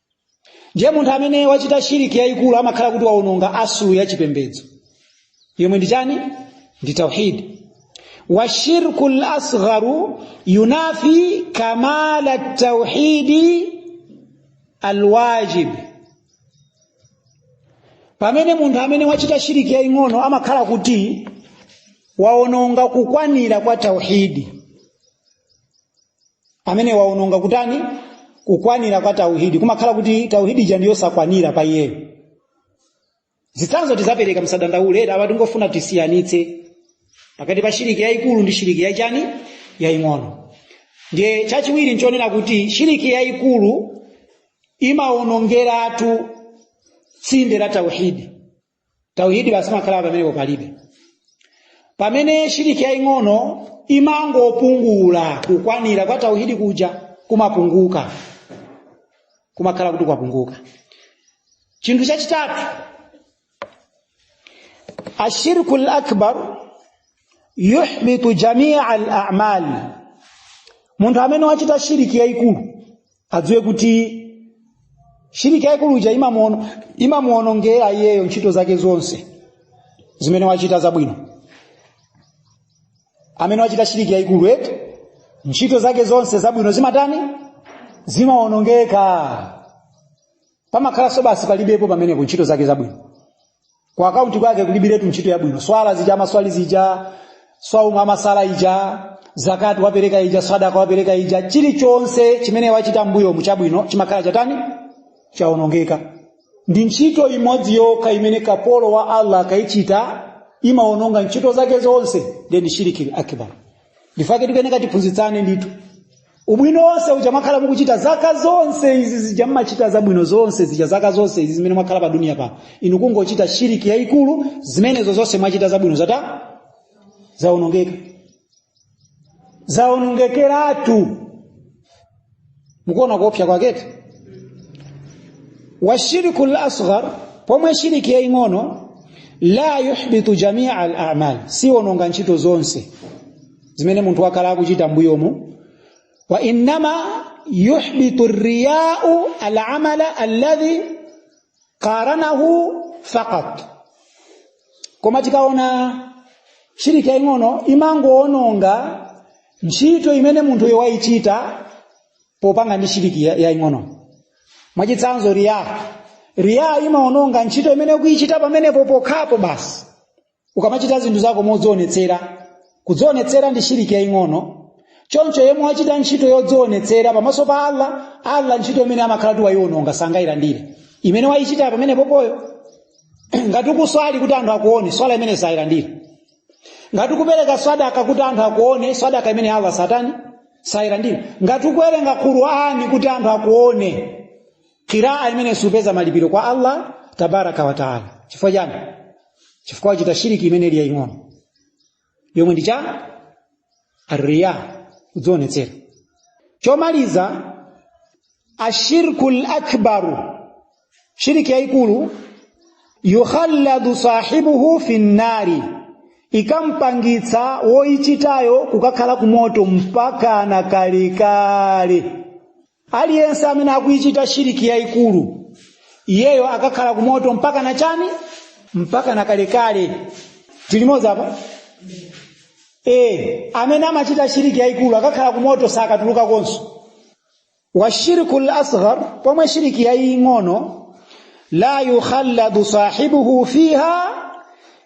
[SPEAKER 1] ndiye munthu amene wachita shiriki yayikulu amakhala kuti waononga asulu ya chipembedzo yomwe ndi chani ndi tauhid wa shirku lasgharu yunafi kamala tauhidi alwajib pamene munthu amene wachita shiriki yaying'ono amakhala kuti waononga kukwanira kwa tauhidi amene waononga kutani kukwanira kwa tauhidi kumakhala kuti tauhidi ija ndiyosakwanira pa iyeyo zitsanzo tidzapereka msadandaule eti apa tikungofuna tisiyanitse pakati pa shiriki yayikulu ndi shiriki yachani yaying'ono ndiye chachiwiri nchonena kuti shiriki yayikulu imaonongeratu tsinde la tauhidi tauhidi basi makhala pamenepo palibe pamene shiriki yaing'ono imangopungula kukwanira kwa tauhidi kuja kumapunguka kumakhala kuti kwapunguka chinthu chachitatu ashirku lakbar yuhbitu jamia alamal munthu amene wachita shiriki yaikulu adziwe kuti shiriki yaikulu ija imamuono- imamuonongera iyeyo ntchito zake zonse zimene wachita zabwino amene wachita shiriki yaikulu eti ntchito zake zonse zabwino zimatani zimaonongeka pamakhalanso basi palibepo pamenepo ntchito zake zabwino ku akaunti kwake kulibiretu ntchito yabwino swala zija amaswali zija swaumu amasala ija zakati wapereka ija sadaka wapereka ija chilichonse chimene wachita mbuyo mu chabwino chimakhala chatani chaonongeka ndi ntchito imodzi yokha imene kapolo wa allah akayichita imaononga ntchito zake zonse ndi shiriki akbar ndi chifukwa chake tikuyenera tiphunzitsane ndithu ubwino wonse uja mwakhala mukuchita zaka zonse izi zija mmachita zabwino zonse zija zaka zonse izi zimene mwakhala pa duniya pano inu kungochita shiriki yayikulu zimenezo zonse mwachita zabwino zatha zaonongeka zaonongekeratu mukuona kuopsa kwake eti wa shirku lasghar pomwe shiriki yaying'ono la yuhbitu jamia al amal siononga ntchito zonse zimene munthu wakhala akuchita mbuyomu wa innama yuhbitu riyau alamala alladhi qaranahu faqat koma tikaona shiriki yaing'ono imangoononga ntchito imene munthuyo wayichita popanga ndi shiriki ya- yaing'ono mwachitsanzo riya riya imaononga ntchito imene ukuyichita pamenepo pokhapo basi ukamachita zinthu zako modzionetsera kudzionetsera ndi shiriki yaying'ono choncho yemwe wachita ntchito yodzionetsera pamaso pa allah allah ntchito imeneyo amakhala kuti wayiwononga sangayilandire imene wayichita pamenepoyo ngati ukuswali kuti anthu akuone swala imeneyo sayilandira ngati ukupereka sadaka kuti anthu akuone sadaka imeneyo allah satani sayilandira ngati ukuwerenga qur'ani kuti anthu akuone qiraa imeneyo supeza malipiro kwa allah tabaraka wa taala chifukwa chani chifukwa wachita shiriki imene ili yaing'ono yomwe ndi chani arriya kudzionetsera chomaliza ashirku lakbaru shiriki yaikulu yukhallidu sahibuhu fi nnari ikampangitsa woichitayo kukakhala kumoto mpaka na kalekale aliyense amene akuichita shiriki yayikulu iyeyo akakhala ku moto mpaka na chani mpaka na kalekale tili limodzi apa e, amene amachita shiriki yayikulu akakhala ku moto sakatulukakonso wa shirku lasghar pomwe shiriki yaying'ono la yukhalladu sahibuhu fiha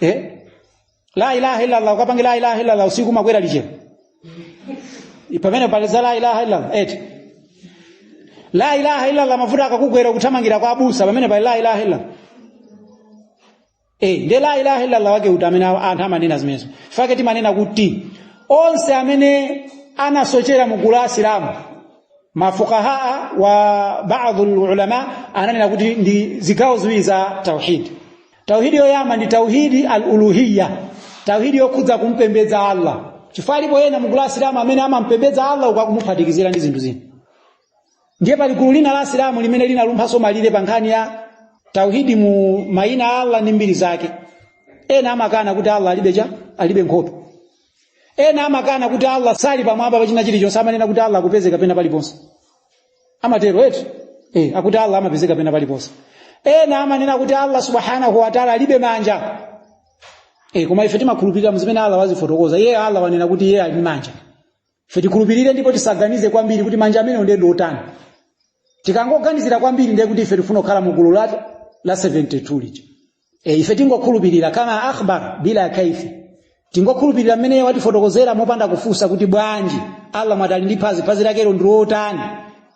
[SPEAKER 1] eh? la ilaha illallah ukapange la ilaha illallah usiku makwera liche pamene pali za la ilaha illallah eti la ilaha illallah mavuto akakugwera kuthamangira kwa abusa pamene pali la ilaha illallah Eh, nde la ilaha illallah wake uti amene anthu amanena zimenezo chifukwa chake timanena kuti onse amene anasochera mu gulu la asilamu mafuqahaa wa baadhi ulama ananena kuti ndi zigawo ziwiri za tauhid tauhidi yoyamba ndi tauhidi al-uluhiyya tauhidi yokhudza kumpembedza Allah chifukwa alipo ena mu gulu la asilamu amene amampembedza Allah kwa kumuphatikizira ndi zinthu zina ndiye pali gulu lina la asilamu limene linalumphaso malire pa nkhani ya tauhidi mu maina a Allah ndi mbiri zake ena amakana kuti Allah alibe chani alibe nkhope ena amakana kuti Allah sali pamwamba pa china chilichonse amanena kuti Allah akupezeka pena paliponse amatero eti eh, akuti allah amapezeka pena paliponse ena amanena kuti allah subhanahu wataala alibe manja eh, koma ife timakhulupirira mu zimene allah wazifotokoza iye allah wanena kuti iye ali ndi manja ife tikhulupirire ndipo tisaganize kwambiri kuti manja amenewo ndiye ndi otani tikangoganizira kwambiri ndiye kuti ife tifuna kukhala mu gulu la la 72 lija e, ife tingokhulupirira kama akhbar bila kaifi tingokhulupirira mmene iye watifotokozera mopanda kufunsa kuti bwanji allah mwati ali ndi phazi phazi lakelo ndi lotani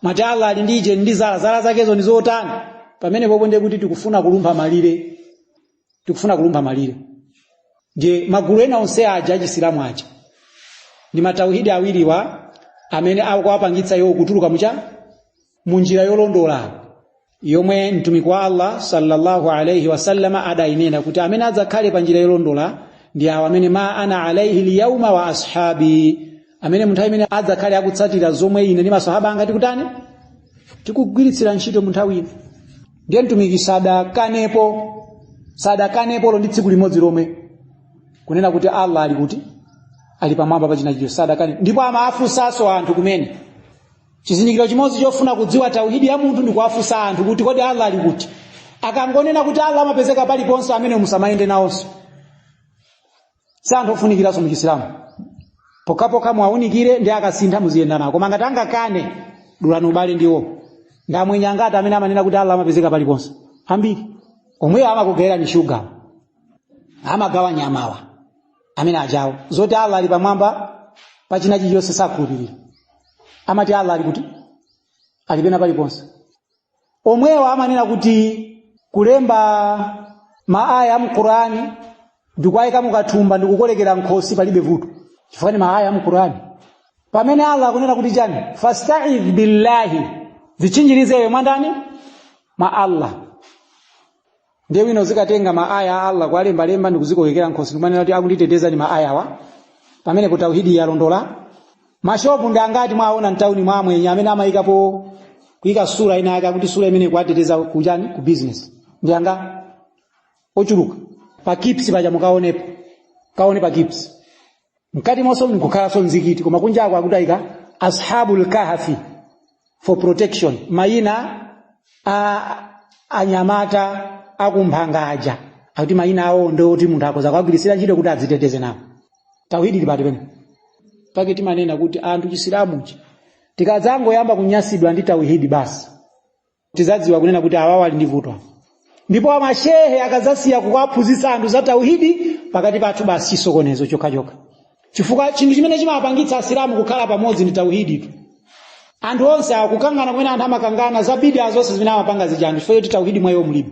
[SPEAKER 1] mwati allah ali ndi uje ndi zala zala zakezo ndi zotani pamene popo ndiye kuti tikufuna kulumpha malire tikufuna kulumpha malire ndiye magulu ena onse aja achisilamu aja ndi matauhidi awiriwa amene akuwapangitsa iwo kutuluka mucha mu njira yolondola yomwe mtumiki wa allah sallallahu alaihi wasallama adayinena kuti amene adzakhale pa njira yolondola ndi awo amene ma ana alaihi lyauma wa ashabi amene munthawi imene adzakhale akutsatira zomwe ine ndi masahaba anga tikutani tikugwiritsira ntchito munthawi ino ndiye mtumiki sadakanepo sadakanepolo ndi tsiku limodzi lomwe kunena kuti allah ali kuti ali pamwamba pa china chilichonse sadakane ndipo amafunsanso anthu kumene chizindikiro chimodzi chofuna kudziwa tauhidi ya munthu ndi kuwafunsa anthu kuti kodi allah ali kuti akangonena kuti allah amapezeka paliponse amene musamayende nawonso si anthu ofunikiranso mu chisilamu pokhapokha muwaunikire ndi akasintha muziyenda nawo koma ngati angakane dulani ubale ndi iwo ndi amwenye angati amene amanena kuti allah amapezeka paliponse ambiri omweyo amakugawirani shuga amagawa nyamawa amene ajawo zoti allah ali pamwamba pa china chilichonse sakhulupirira amati allah ali kuti ali pena paliponse omwewo amanena kuti kulemba maaya a mqurani ndikuwayika mukathumba ndikukolekera nkhosi palibe vuto chifukwa ni maaya a mqurani pamene allah akunena kuti chani fastaidh billahi zitchinjirize iwe mwandani mwa allah ndiye wina uzikatenga maaya a allah kuwalembalemba ndi kuzikolekera nkhosi ndikumanena kuti akunditeteza ndi maayawa pamenepo tauhidi yalondola mashopu ndi angati mwaona mtauni mwa amwenye amene amayikapo kuyika sura ina yake akuti sura imene ikuwateteza kuchani ku business ndi anga ochuluka pa kips paja mukaonepo kaone pa kips mkati monso mkukhalanso mumzikiti koma kunjako akutayika ashabul kahfi for protection mayina a anyamata akuphanga aja akuti mayina awo ndoti munthu akoza kuwagwiritsira ntchito kuti adziteteze nawo tawhidi ili pati pene pake timanena kuti anthu chisilamuchi tikadzangoyamba kunyasidwa ndi tawhidi basi tizadziwa kunena kuti awawa ali ndi vuto awa. ndipo amashehe akazasiya kuwaphunzitsa anthu za tauhidi pakati pathu basi chisokonezo chokhachokha chifukwa chinthu chimene chimapangitsa asilamu kukhala pamodzi ndi tauhiditu anthu onse akukangana kumene anthu amakangana za bidaa zonse zimene amapanga zija anthu chifukwa choti tauhidi mwa iwo mulibe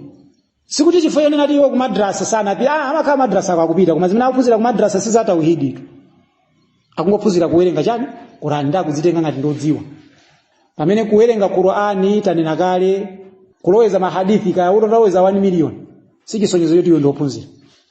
[SPEAKER 1] sikuti chifukwa chonena kuti iwo kumadrasa sanapita ah, amakhala madrasa ko akupita koma zimene akuphunzira kumadrasa si za tauhiditu akungophunzira kuwerenga chani qurani ndikudzitenga ngati ndodziwa pamene kuwerenga qurani tanena kale kuloweza mahadithi kaya utaloweza 1 million si chisonyezo choti iwe ndiophunzira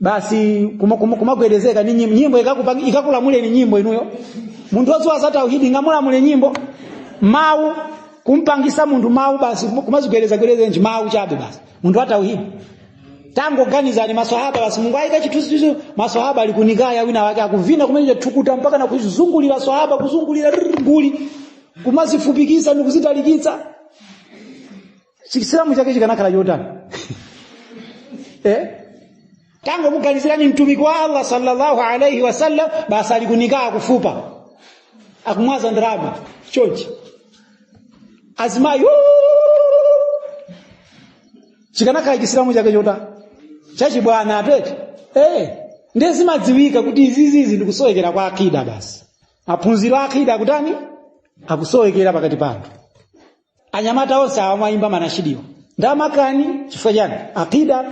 [SPEAKER 1] basi kuma- kuma- kumagwedezeka ni nyimbo nyimbo ikakupang- ikakulamuleni nyimbo inuyo munthu wodziwa za tauhidi ingamulamule nyimbo mawu kumpangisa munthu mawu basi kum- kumazigwedezagwedeza ndi mawu chabe basi munthu wa tauhidi tangoganizani maswahaba basi mungoyika chithunzithunzi maswahaba ali ku nikaa wina wake akuvina kumene thukuta mpaka na kuzungulira swahaba kuzungulira rrr, nguli kumazifupikisa ndi kuzitalikitsa chisilamu chake chikanakhala chotani eh? tangomuganizirani mtumiki wa allah sallallahu alaihi wasallam basi ali ku nikaa kufupa akumwaza ndalama chonchi azimayi chikanakhala chisilamu chake chotani chachibwana atete eh, ndiye zimadziwika kuti izizizi ndikusowekera kwa akida basi maphunziro a akida akutani akusowekera pakati pathu anyamata onse awa amayimba manashidiwa ndamakani chifukwa chani akida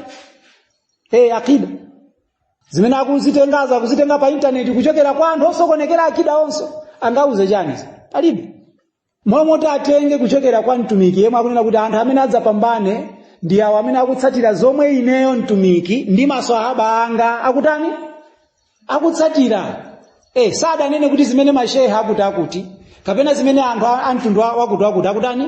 [SPEAKER 1] e akida zimene akuzitengazo akuzitenga pa intaneti kuchokera kwa anthu osokonekera akida onso angauze chani palibe momwe atenge kuchokera kwa mtumiki yemwe akunena kuti anthu amene adzapambane ndi awo amene akutsatira zomwe ineyo mtumiki ndi maswahaba anga akutani akutsatira eh sadanene kuti zimene mashehe akuti akuti kapena zimene anthu a- a mtundu wa- wakuti wakuti akutani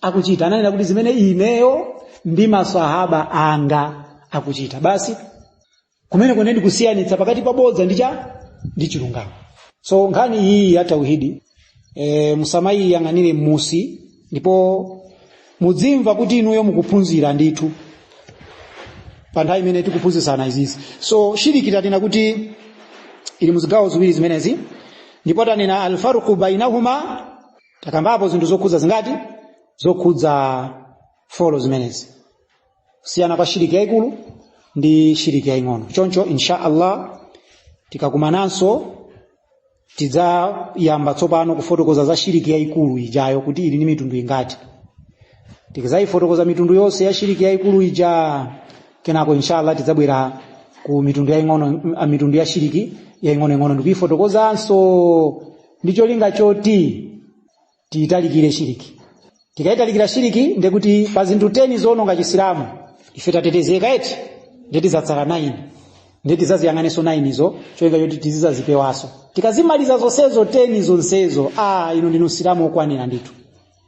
[SPEAKER 1] akuchita ananena kuti zimene ineyo ndi maswahaba anga akuchita basi kumeneko ndiye kusiyanitsa pakati pa bodza ndi cha ndi chilungamo so nkhani iyi ya tauhidi e, musamayiyang'anire m'munsi ndipo mudzimva kuti inuyo mukuphunzira ndithu pa nthawi imene tikuphunzitsana izizi so shiriki tanena kuti ili muzigawo ziwiri zimenezi ndipo tanena alfarqu bainahuma takambapo zinthu zokhudza zingati zokhudza folo zimenezi kusiyana kwa shiriki yaikulu ndi shiriki yaing'ono choncho insha allah tikakumananso tidzayamba tsopano kufotokoza za shiriki yaikulu ijayo kuti ili ndi mitundu ingati tikadzayifotokoza mitundu yonse ya shiriki yaikulu ija kenako inshallah tidzabwera ku mitundu yaing'ono a mitundu ya shiriki yaing'onoing'ono ndikuyifotokozanso ndi cholinga choti tiyitalikire shiriki tikayitalikira shiriki ndekuti pa zinthu 10 zoononga chisilamu ife tatetezeka eti nde tizatsala 9 nde tizaziyang'anenso 9 izo cholinga choti tizizazipewanso tikazimaliza zonsezo 10 zonsezo a inu ndinu msilamu okwanira ndithu